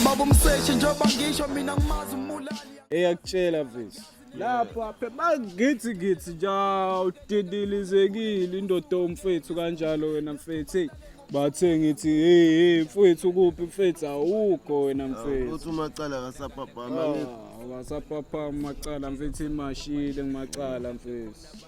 Baba umseshi njengoba ngisho mina ngimazi umulali eyakutshela visi lapha phe mangithi ngithi nja udidilizekile indoda omfethu kanjalo wena mfethu hey bathe ngithi hey hey mfethu kuphi mfethu awukho wena mfethu uthi umacala kasaphaphama ngeke akasaphaphama macala mfethu imashile ngimacala mfethu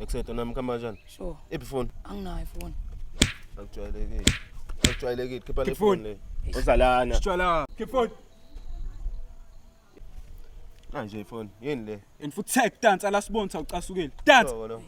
Ekusethwa nami khamba kanjani? Sure. Iphi phone? Anginayo phone. Akujwayelekile. Akujwayelekile. Khipha le phone le. Uzalana. Sitshwala. Khipha phone. Kanje phone. Yini le? And futhi tag dance alasibonisa ucasukile. Dance.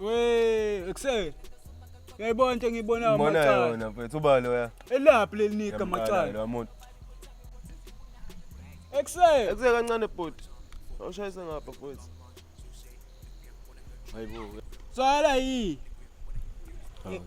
We, ekuse. Yayibona into engiyibonayo Mbona macala. yona mfethu uba loya. Elaphi leli nika Yamqala macala. loya muntu. Ekuse. Ekuse kancane bhuti. Awushayise ngapha mfethu. Hayibo. Sala yi. Hawu.